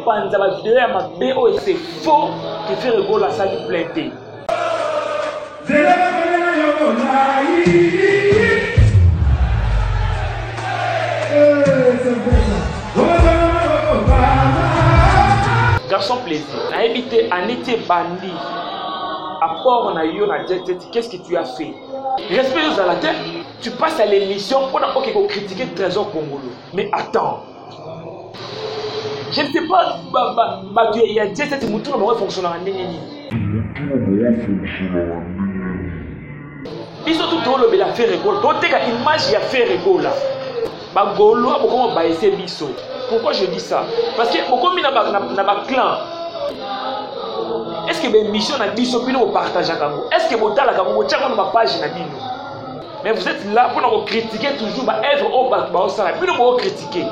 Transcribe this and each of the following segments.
bopanza bavideo ya mabe oyo se faux kefere egolo asali plein te garçon plaisir nayebi te aneti ebandi apport na yo na jetete qu'est-ce que tu as fait respect ozala te tu passes à l'émission mpona oke kocritiquer trésor kongolo mais attends je ne sais pas bato ya jesete motu na bango efonctionnaka ndenge nini biso tu tolobela ferregola toteka image ya ferregola bagolois bokoma baese biso pourquoi je dis ça parce que bokomi na baclan est ce que baémission na biso bino bopartageaka yango est ce que botalaka yango botiaka yango na bapage na bino mais vous êtes là mpona kocritiquer toujours baœuvre oyo bato baosala bino bookritike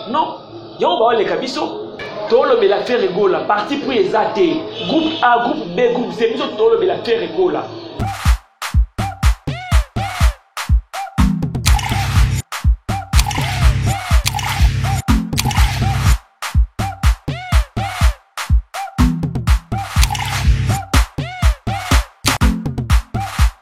non yango baoleka biso tolobela ferre gola parti pris eza te groupe a groupe b groupe c biso tolobela ferre gola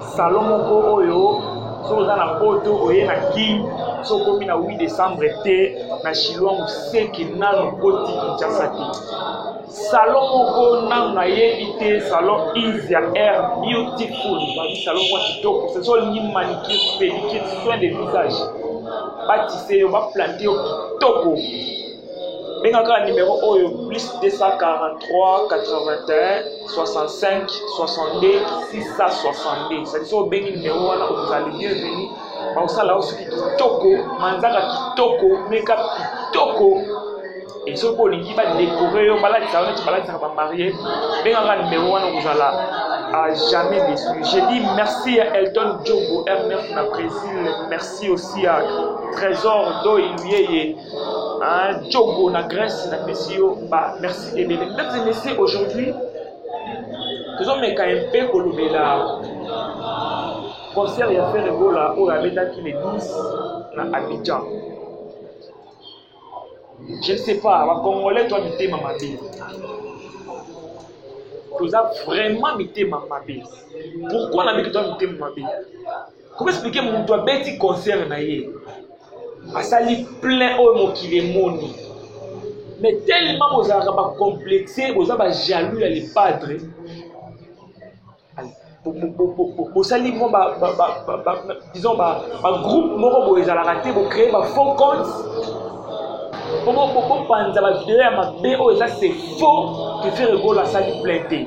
salon moko oyo soki oza na poto oye na kin so okomi na 8 décembre te na chinois moseki nano koti kinshasa te salon moko nano nayebi te salon isia air beautiful babi salon mwa kitoko soki olingi manicure pédicure soin de visage batise yo baplante yo kitoko benga kaka numero oyo plus 243 81 65 62 662 ezali soki obengi numero wana okozala le bienvenu bakosala yo soki kitoko manzaka kitoko meka kitoko e soki mpo olingi badekore yo balatisa yo neti balatisaka bamarie benga kaka numero wana okozala à jamais déçu. J'ai dit merci à Elton Djogo, RMF na Brésil. Merci aussi à Trésor Doyuyeye. Hein, Djogo na Grèce na pesi yo ba merci ebele. Mesdames et messieurs, aujourd'hui tozomeka un peu kolobela concert ya Ferre Gola oyo abetaki le 12 na Abidjan. Je ne sais pas, ba Congolais toi mitema mabe. Toza vraiment mitema mabe. Pourquoi na miki toi mitema mabe? Comment expliquer mutu abeti concert na ye asali plein oyo mokili emoni mais tellement bozalaka bacomplexe boza bajaloux ya lepadre bosali mwa disons bagroupe moko boye ezalaka te bocree bafaux compte bopanza bavideo ya mabe oyo eza se faux kefere gola asali plein te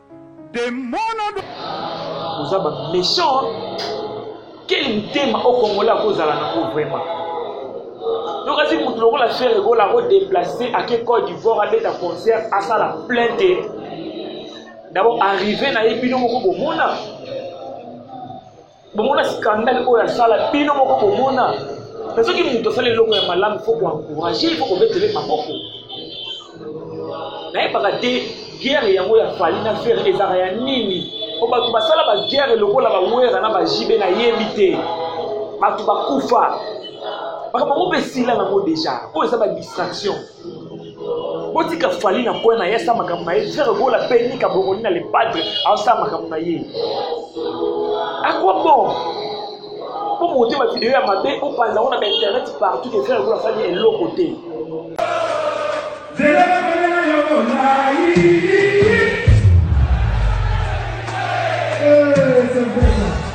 demono do oza ba méchant quel mutema o congolais akozala nango vraiment yokasi motu lokola fere egola akodeplace ake cote d'ivoire abeta concert asala plein te dabord arrive na ye bino moko bomona bomona skandale oyo asala bino moko bomona na soki moto asali eloko ya malamu fo koencourage fo kobetele maboko nayebaka te guerre yango ya fali na fere ezalaka ya nini po bato basala baguerre lokola bawera na bajibe nayebi te bato bakufa makambo yango mpe esila nango deja oyo eza badistraction botika fali na koya na ye asala makambo na ye frere gola mpe nika bongoli na lepadre asala makambo na ye akwa bon mpo mote bavideo ya mabe opanza ngo na bainternet partout ke frere gola asali eloko te Hey,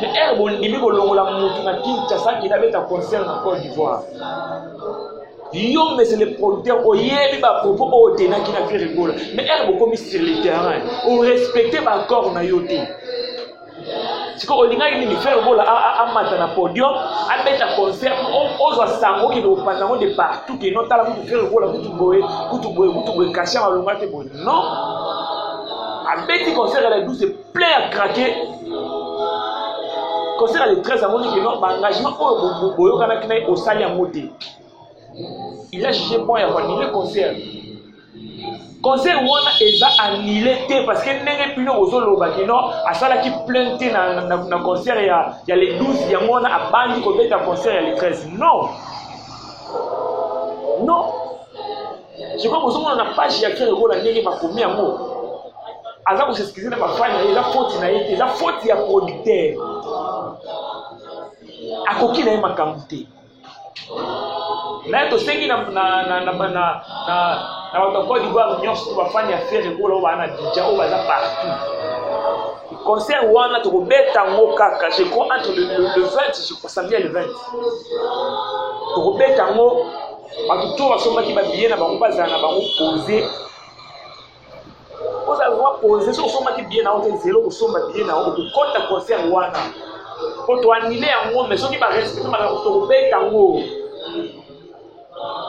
Mais ere bondimi kolongola motu na kinshasa akende abeta concert na cote d'ivoire yo mese le producteur oyebi bapropos oyo otenaki na pierre egola mais ere bokomi sur le terrain orespecte baaccord na yo te sikoyo olingaki nini frere bola amata na podium abeta concert ozwa sango okende kopanza yango de partout keno tala kutu frere bola kutu boye kutu boye kutu boye kasha malonga te boye non abeti concert ya la 12 plein ya krake conseil ya le 13 amoni ke non baengagement oyo boyokanaki na ye osali yango te il a jugé bon ya koannule concert concert wana eza annule te parce que ndenge bino bozoloba kino asalaki plainte te na, na, na concert ya, ya le 12 yango wana abandi kobeta concert ya le 13 non non sikoyo bozomona na page ya fiere lokola ndenge bakomi yango aza koseskize na bafani na ye eza foti na ye te eza foti ya producteur akoki na ye makambo te naye tosengi na bato ya cote divoire nyonso to bafani ya fiere lokola oyo baa na bidja oyo baza partout concert wana tokobeta yango kaka je crois entre le 20 je crois samedi ya le 20 tokobeta yango bato to basombaki babiye na bango bazala na bango pose ozala zwa pose soki osombaki biye na yo te zelo kosomba biye na yo kokota concert wana po toanile yango mai soki barespecte makambo tokobeta yango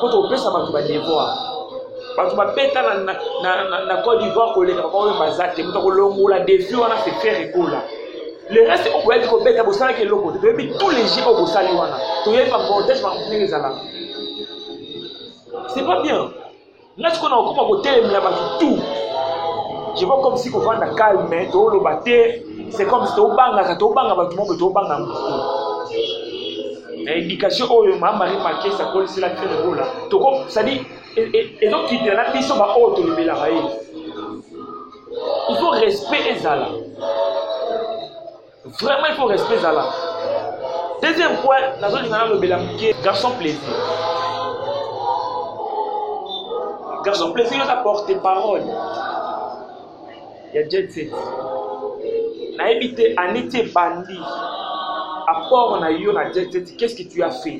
po tokopesa bato badevoir bato babeta na cote d'ivoire koleka babaoyo baza te moto akolongola defi wana se faire ekola le reste oyo boyaki kobeta bosalaki eloko te toyebi tous les jeux oyo bosali wana toyebi bacortège makambo ndenge ezalaka c'est pas bien nga sikoyo na kokoma kotelemela bato tout je vois comme si kovanda calme tooloba te c'est comme si tobangaka tobanga bato moko tobanga motu na éducation oyo ma marie makes akolisela fene bola toko cestadi ezokitela na biso baoyo tolobelaka ye il faut respect ezala vraiment il faut respect ezala deuxième point nazolinga nalobela moke garçon plaisir garçon plaisir oza porte parole ya jet set nayebi te aniti ebandi apport na yo na jet set qu'est ce que tu as fait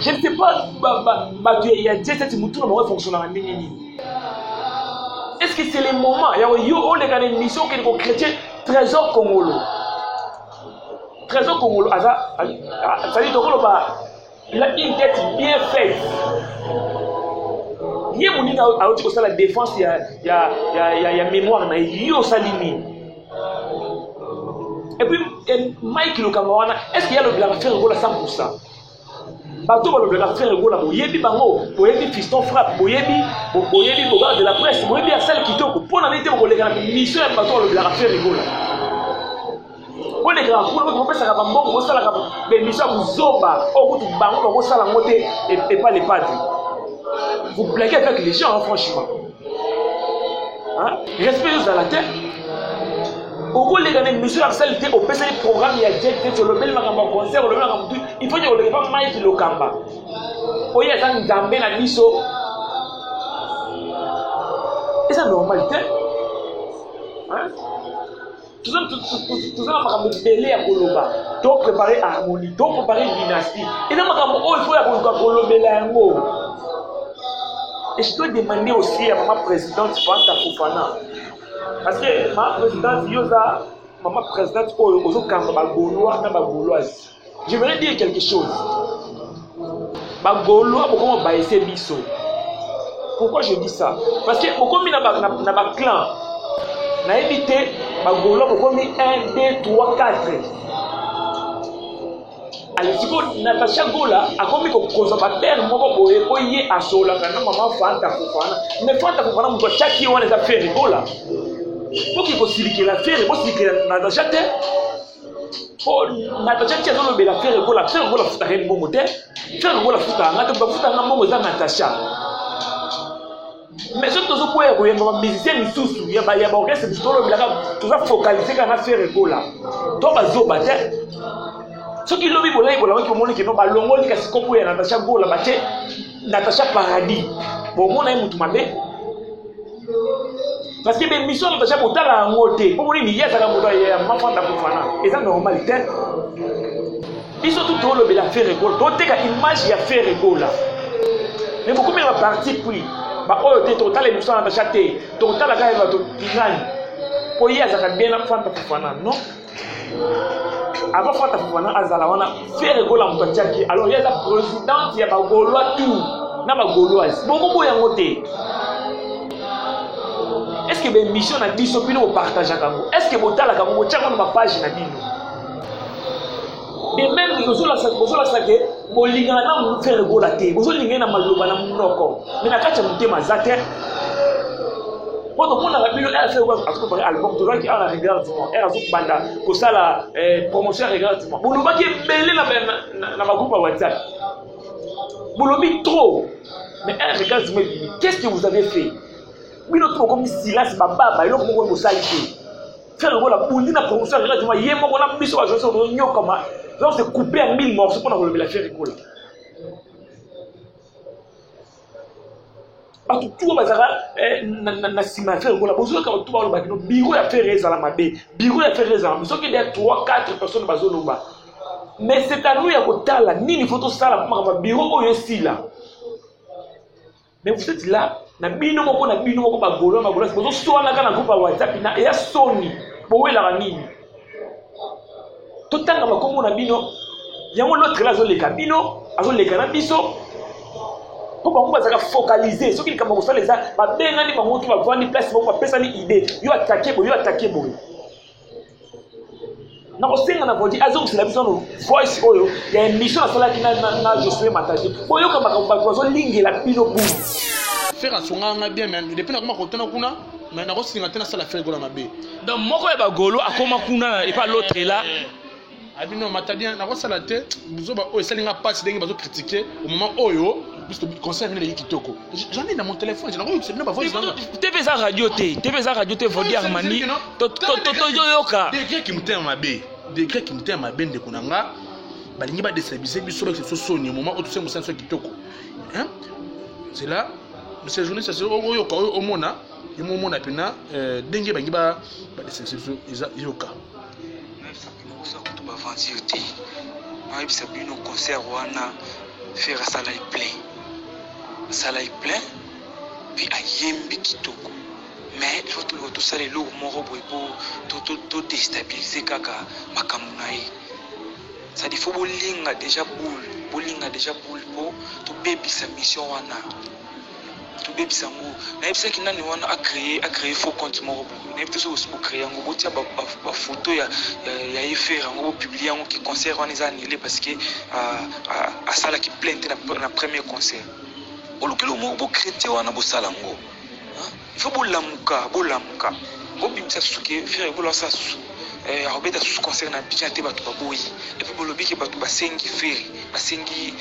je ne sais pas bato ya jeseti motu na bango efonctionnaka ndenge nini est ce que c'est le moment yango yo oleka na émission okende kochrétien trésor congolo trésor congolo aza azali tokoloba il a une tête bien faite ye moninga auti kosala défense ya, ya, ya, ya, ya mémoire na ye yo osali nini et puis eh, mike lokamba wana est ce que ya lobelaka frère gola 100 pourcent bato balobelaka frère gola boyebi bango boyebi fiston frappe boyebi boyebi bogar de la presse boyebi ya sale kitoko mpo na nini te bokoleka na mission ya bato balobelaka frère gola bolekaka kuna boto bopesaka bambongo bosalaka bemission ya kozoba oyo kutu bango bakosala yango te epa lepadi vous blaguez avec les gens hein, franchement respect ezala te okoleka na émission ya sali te opesaki programme ya jet te olobeli makambo ya concert olobeli makambo tu il faut oleka pa mike lokamba oyo aza nzambe na biso eza normal te toza na makambo ebele ya koloba to prépare harmonie to prépare dynastie eza makambo oyo fo ya koluka kolobela yango et je dois demander aussi ya mama présidente fanta fofana parce que mama présidente yo oza mama présidente oyo ozokamba bagolois na bagoloise je voudrais dire quelque chose bagolois bokoma baese biso pourquoi je dis ça parce que bokomi na baclan nayebi te bagolois bokomi 1 2 3 4 sikoyo natasha gola akomi kokonza babere moko boye mpo ye asololaka na mama fanta fofana me fanta fofana moto atyaki ye wana eza fere gola mpo kikosilikela fere bosilikela natasha te natacha azolobela fere gola fere gola afutaka ye mbongo te fere gola afutaka nga te bafutaka mbongo eza natacha mais soki tozokwea koyemba bamusicien misusu ya baorchestre bisu tolobelaka toza focalise kaka na fere gola to bazoba te soki lobi bolai bolamaki omoni kino balongoli kasi kombo ya natacha gola bate Natacha Paradis, bomona ye mutu mabe parce que bemission na Natacha botala yango te mpo monini ye azalaka moto ya mafanda kofana eza normal te biso tu tolobela Ferre Gola toteka image ya Ferre Gola mais bokomi na baparti pris baoyo te tokotala émission ya Natacha te tokotala kaka bato binani mpo ye azalaka bien na fanda kofana non avant fata fofana azala wana fere gola moto atiaki alors ye aza présidente ya bagolois tour na bagoloise bokoboya yango te est ce que baémission na biso bino bopartageaka yango est ce que botalaka yango botiaka na bapage na bino et même bozolakisa bozolakisa ke bolingana na motu frere bola te bozolingai na maloba na monoko me na kati ya motema aza te mpo tomonaka bino rfe azokopare album tozalaki awa na regard du mois r azokobanda kosala eh, promotion ya regard du mois bolobaki ebele na bagroupe ya whatsapp bolobi trop mais r regard du mois ebimi qu'est ce que vous avez fait bino to bokomi silence bababa eloko moko bosali te Tiens, le la boule, la promotion, la radio, il y a un moment, on a mis sur la joie, on a mis comme un. Donc, c'est coupé en mille morceaux pour enlever la fière et coller. bato tuwa bazalaka eh, na nsima ya fere kola bozolaka bato balobaki no biro ya fere ezala mabe biro ya fere ezala mabe soki deya 3 4 personnes bazoloba mais c'est à nous ya kotala nini fo tosala mpo makambo ya biro oyo esila Mais vous êtes là, na bino moko na bino moko ba golo ba golo, bozo swanaka na groupe ya WhatsApp na eya soni, bowelaka nini? Totanga makombo na bino, yango l'autre là azoleka bino, azoleka na biso, mpo bango bazalaka focalise soki likambo kosala eza babengani bango to bavandi place moko bapesani idée yo atake boye yo atake boye nakosenga na voiture azongisela biso no voice oyo ya émission asalaki na josue mataje boyoka makambo bato bazolingela bino buni fere asongaa ngai bien mais depuis nakoma kotuna kuna mais nakosinga te nasala fere gola mabe donc moko ya bagolo akoma kuna epa l'autre la abi non mata bien nakosala te buzoba oyo esali nga mpasi ndenge bazo kritike omoma oyo concert nini eleki kitoko j'en ai na mon téléphone nakoyokisa bino bavoice tv eza radio te tv eza radio te vodi armani toyoka degré kimotema mabe degré kimotema mabe ndeko na nga balingi badestabilise biso bakisa biso soni omoma oyo tosali mosala biso kitoko zela monsieur journaliste oyoka oyo omona ye momona mpena ndenge bangi badestabilise biso eza yoka nayebisa bino concert wana fere asala ye plein asala ye plein mpe ayembi kitoko mais ifo toluka tosala eloko moko boye mpo todestabilize kaka makambo na ye sadi fo bolinga deja boule bolinga deja boule mpo tobebisa mission wana tobebisa yango nayebisaki nani wana acree acree faux compte moko boye nayebi te soki bocree yango botia bafoto ya, ya, ya efere yango bopublie yango ke concert wana eza annule parce que asalaki plainte na, na premier concert bolukeli moko bocrete wana bosala yango Il faut bolamuka bolamuka bobimisa susu ke ferre gola asala susu eh, akobeta susu concert na abidjan te bato baboyi epuis bolobi ke bato basengi ferre basengi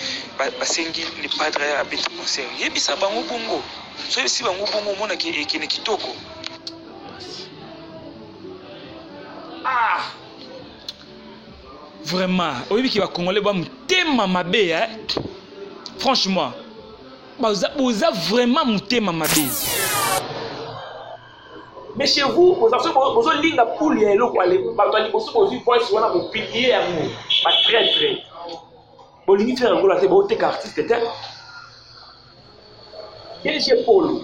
basengi le padre abeta concert yebisa bango bongo so yebisi bango bongo omona ke ekende kitoko ah! vraiment oyebi ke bacongolais ba motema mabe eh? franchement Boza, boza vraiment mutema mabe. Mais chez vous, vous avez besoin de linga poule ya eloko ale. Bato ya liboso bozwi voice wana bopilie yango. Ba très très. Bolingi tina yango la te boteka artiste te. DG Polo.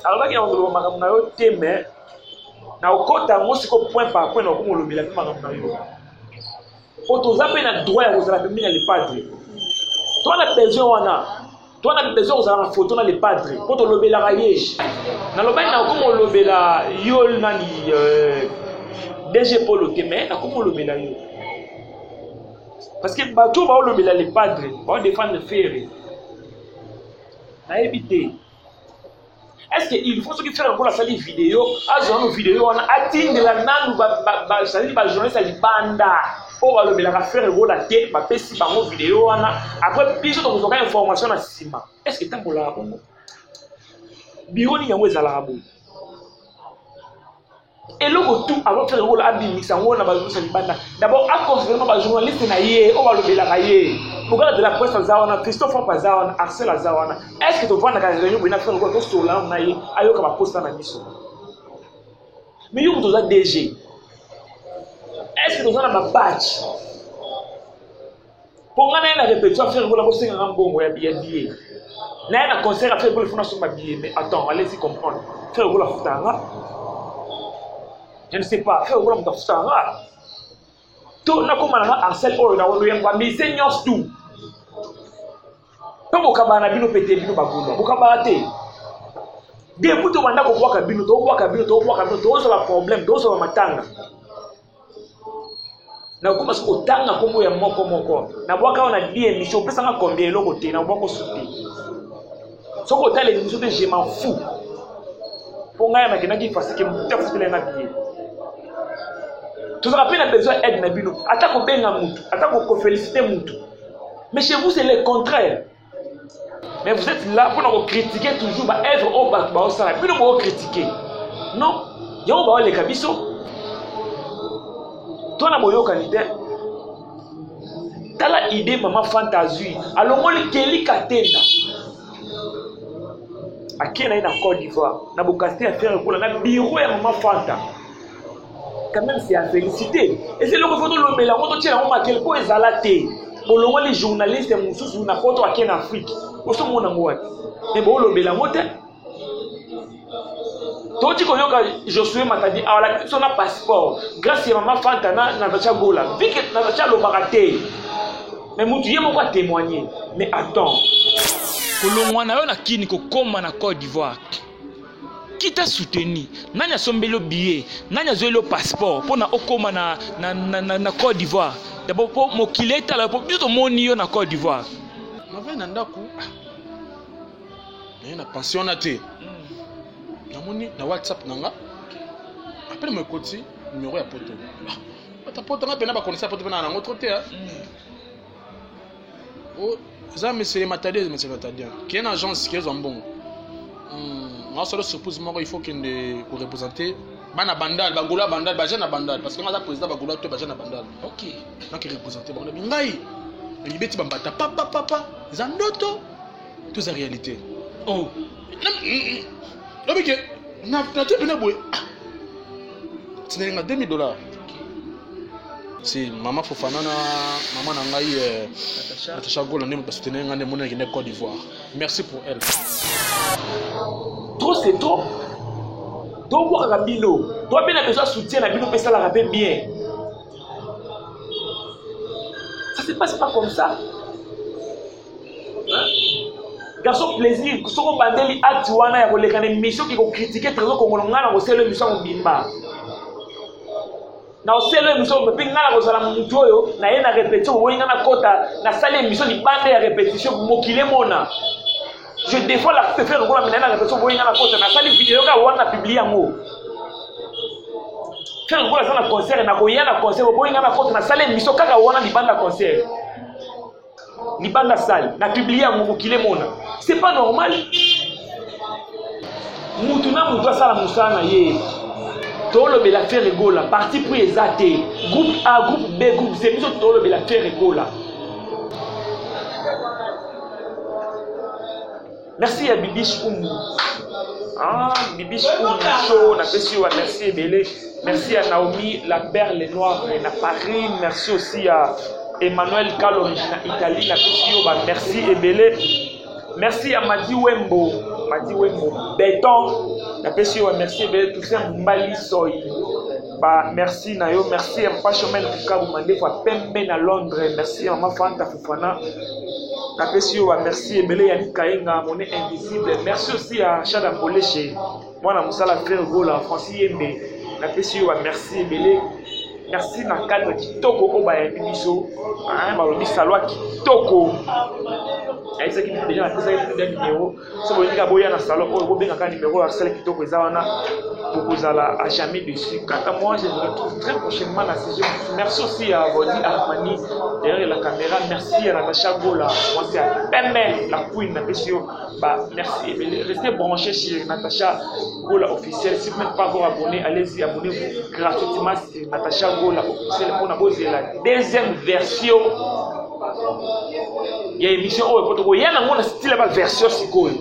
Alobaki na koloba makambo na yo te mais na okota yango siko point par point na okomolobela mpe makambo na yo. po toza mpe na droit ya kozala pembeni ya lepadre toa na besoin wana toa na besoin kozala na foto na lepadre po tolobelaka ye nalobaki nakomi olobela yo nani euh, dg polo te mais nakomi olobela yo parce que bato baolobela lepadre baodefendre fere nayebi te est-ce que il faut soki fela lokola asali video azwa nano video wana atindela nanu bazali bajournaliste ya libanda oyo balobelaka fere gola te bapesi bango video wana apres biso tokozwaka information na nsima est ce que etambolaka bongo biro nini yango ezalaka boye eloko tu azosala lokola abimisa yango na bazongisa libanda dabord aconsidere bajournaliste na ye oyo balobelaka ye bokala de la presse aza wana christophe op aza wana arcel aza wana est ce que tovandaka réunion boye na fre lokola tosolana na ye ayoka baposta na biso mais yo moto oza dg est ce que toza na babatch mpo ngai naye na repetition afere kola kosenga nga mbongo ya biye biye naye na concert afere kola fona somba biye mais attends alesi comprendre frère okola afutaka nga je ne sais pas frère okola moto afutaka nga to nakoma na nga arsel oyo na wando yango amise nyonso tu mpe bokabaa na bino pete bino bagola bokabaa te depuis tobanda kobwaka bino tobwaka bino tobwaka bino tozala problème tozala matanga nakoma soki kotanga nkombo ya moko moko nabwaka awa na di émission opesanga combien eloko te nabwaka osu te soki otala émission te je m'en fou mpo ngai nakendaki fasike motu afutela nga biye tozalaka mpe na besoin aide na bino ata kobenga motu ata kofelicite motu mais chez vous c'est le contraire mais vous êtes là mpona kocritiquer toujours baœuvre oyo bato baosala bino bokocritiquer non yango baoleka biso to na boyokani te tala idée mama fanta azwi alongoli keli katenda akei na ye na côte d'ivoire na bokasite ya ferre ekola na biro ya mama fanta quand même c'est à féliciter eza eloko ifo tolobela yango totyela yango makele mpo ezala te bolongoli journaliste mosusu na poto ake na afrike osomona yango wapi me boolobela yango te toti koyoka josue matadi awalaki biso na passeport grâce ya mama fanta na natacha gola vike natacha alobaka te me motu ye moko atémoigne mais attends kolongwa na yo na kini kokóma na côte d'ivoire kita soutenu nani asombeli yo billet nani azweli yo passeport mpo na okóma na, na, na, na, na côte d'ivoire dabo mpo mokili etala mpo biso tomoni yo na côte d'ivoire navai na ndako naye na pension wana te hmm. namoni na whatsapp na nga apele mo ekoti numero ya poto ah, ata poto nga mpena bakonisa poto mpena na yango tro te hmm. Oh, eza mesele matadi eza mesele matadi kee na agence kee ezwa mbongo hmm, nasolo surprise moko il faut kende korepresente bana bandal bagola bandal baje na bandal parce que nga aza président bagola to baje na bandal ok naki represente bango nabi ngai nayibeti bambata papapapa eza ndoto Tout ça réalité. Oh. Non mais que na na tu pena boy. Tinalinga 2000 dollars. si mama fofana na mama na ngai eh, natacha gola nde basoutenir ngai nde moni nakende côte d'ivoire merci pour elle trop c'est trop tobwakaka bino toi mpe na besoin soutien na bino mpe esalaka mpe bien ça se passe pas comme ça garçon plaisir soki obandeli acte wana ya koleka na émission ki kokritike trésor kongolo ngai na kosela émission ya mobimba na osela émission mpe ngai na kozala motu oyo naye na répétition oboyi ngai nakota nasali émission libanda ya répétition mokili emona je défends la pefere lokola minaye na répétition oboyi ngai nakota nasali video kaka wana na publie yango fere lokola aza na concert nakoya na concert oboyi ngai nakota nasali émission kaka wana libanda concert libanda sale na publie yango mokili emona c'est pas normal mutu na mutu asala mosala na ye tolobela ferre gola parti pris eza te groupe a groupe b groupe c biso tolobela ferre gola Merci ya Bibiche Umbu. Ah, Bibiche Umbu show, na pesi yo merci ebele. Merci à Naomi la perle noire na Paris, merci aussi à Emmanuel Kalonji na Italie na pesi yo ba merci ebele. Merci à Madi Wembo, Madi Wembo Beton na pesi yo ba merci ebele Toussaint Mbali Soy. Ba merci na yo, merci à Papa Chomel Kukabu Mandefo à Pembe na Londres, merci à Maman Fanta Fana, napesi yo ba merci ebele ya Kaenga, mon invisible. Merci aussi à Chada Mboleche, mwana mosala frère Gola, Francis Yembe. Napesi yo ba merci ebele. Merci na cadre kitoko oyo bayambi biso, balobi salwa kitoko. Ayebisaki deja napesaki deja numero soki bolingi kaka boya na salon oyo bobenga kaka nimero ya sale kitoko eza wana bokozala à jamais dessus quant à moi je vous retrouve très prochainement na sujet mosusu merci aussi ya boni armani derrière la caméra merci ya natacha gola mwasi ya pembe la queen napesi yo ba merci ebele reste branché chez natacha gola officiel si vous n'êtes pas encore abonné allez-y abonnez-vous gratuitement sur natacha gola officiel mpona bozela deuxième version ya émission oyo po tokoya nango na style ya baversion sikoyo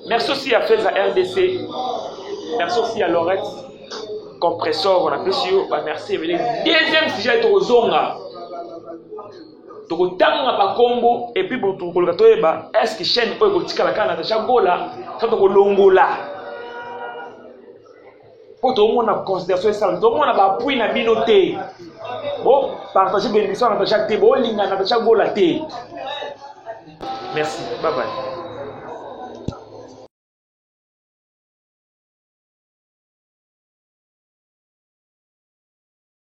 merci aussi ya feza rdc merci aussi ya lorette compressor napesi yo bamerci ebele deuxième sujet tokozonga tokotanga bakombo epuis tokoluka toyeba estce chaîne oyo ekotikala kaka na tacha gola sa tokolongola mpo tomona consideration esala tomona bapui na bino te bopartage bemission ya natacha te bolinga natacha gola te merci babai